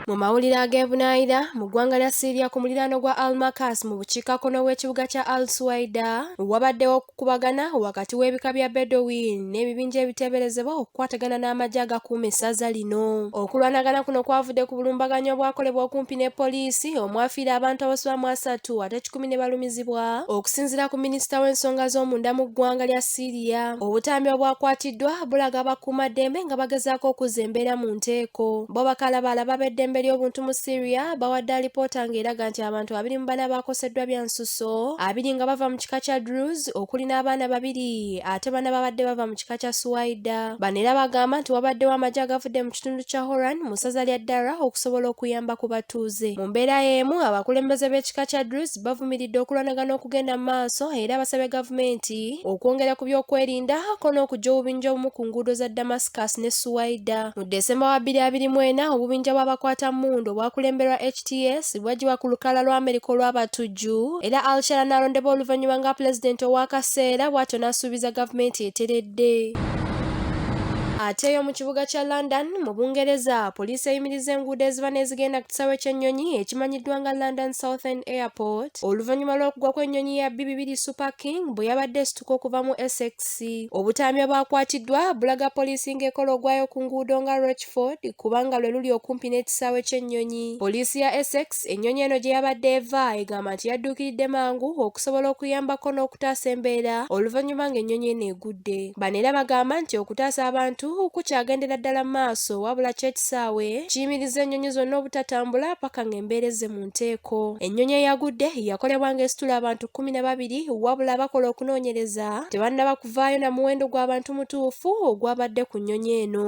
Mu mawulire ag'ebunaayira mu ggwanga lya Syria ku muliraano gwa Al-Makas mu bukiikakkono bw'ekibuga kya Al-Suwaida wabaddewo okukubagana wakati w'ebika bya Bedouin n'ebibinja ebiteeberezebwa okukwatagana n'amagye agakuuma essaza lino. Okulwanagana kuno kwavudde ku bulumbaganyi obwakolebwa okumpi ne poliisi omwafiira abantu abasoba mu asatu ate kikumi ne balumizibwa okusinziira ku minisita w'ensonga z'omunda mu ggwanga lya Syria Gasiya. Obutambi obwakwatiddwa bulaga bakuumaddembe nga bagezaako okuzza embeera mu nteeko. Bo bakalabaala b'abeddembe ly'obuntu mu Syria bawadde alipoota ng'eraga nti abantu abiri mu bana baakoseddwa bya nsusso, abiri nga bava mu kika kya Druze okuli n'abaana babiri ate bana babadde bava mu kika kya Suwaida. Bano era bagamba nti wabaddewo amagye agavudde mu kitundu kya Horan mu ssaza lya Dara okusobola okuyamba ku batuuze. Mu mbeera y'emu abakulembeze b'ekika kya Druze bavumiridde okulwanagana okugenda mu maaso era basabye gavumenti okwongera ku byokwerinda ko n'okujja obubinja obumu ku nguudo za Damascus ne Suwaida. Mu Desemba wa 2024 obubinja bw'abakwata mmundu obwakulemberwa HTS bwagibwa ku lukalala lwa Amerika olw'abatujju era Alshara n'alondebwa oluvannyuma nga pulezidenti ow'akaseera bw'atyo n'asuubiza gavumenti eteredde. Ate yo mu kibuga kya London mu Bungereza, poliisi eyimiriza enguudo eziba n'ezigenda kisaawe ky'ennyonyi ekimanyiddwa nga London Southend Airport oluvannyuma lw'okugwa kw'ennyonyi ya B2 Super King bwe yabadde esituka okuva mu Essex. Obutambi obwakwatiddwa bulaga poliisi ng'ekola ogwayo ku nguudo nga Rochford kubanga lwe luli okumpi n'ekisaawe ky'ennyonyi. Poliisi ya Essex ennyonyi eno gye yabadde eva egamba nti yadduukiridde mangu okusobola okuyambako n'okutaasa embeera oluvannyuma ng'ennyonyi eno egudde. Bano era bagamba nti okutaasa abantu kukyagendera ddala mu maaso wabula kyo ekisaawe kiyimiriza ennyonyi zonna obutatambula paka ng'embeera ezze mu nteeko. Ennyonyi eyagudde yakolebwa ng'esitula abantu kkumi na babiri wabula abakola okunoonyereza tebannaba kuvaayo na muwendo gw'abantu mutuufu ogwabadde ku nnyonyi eno.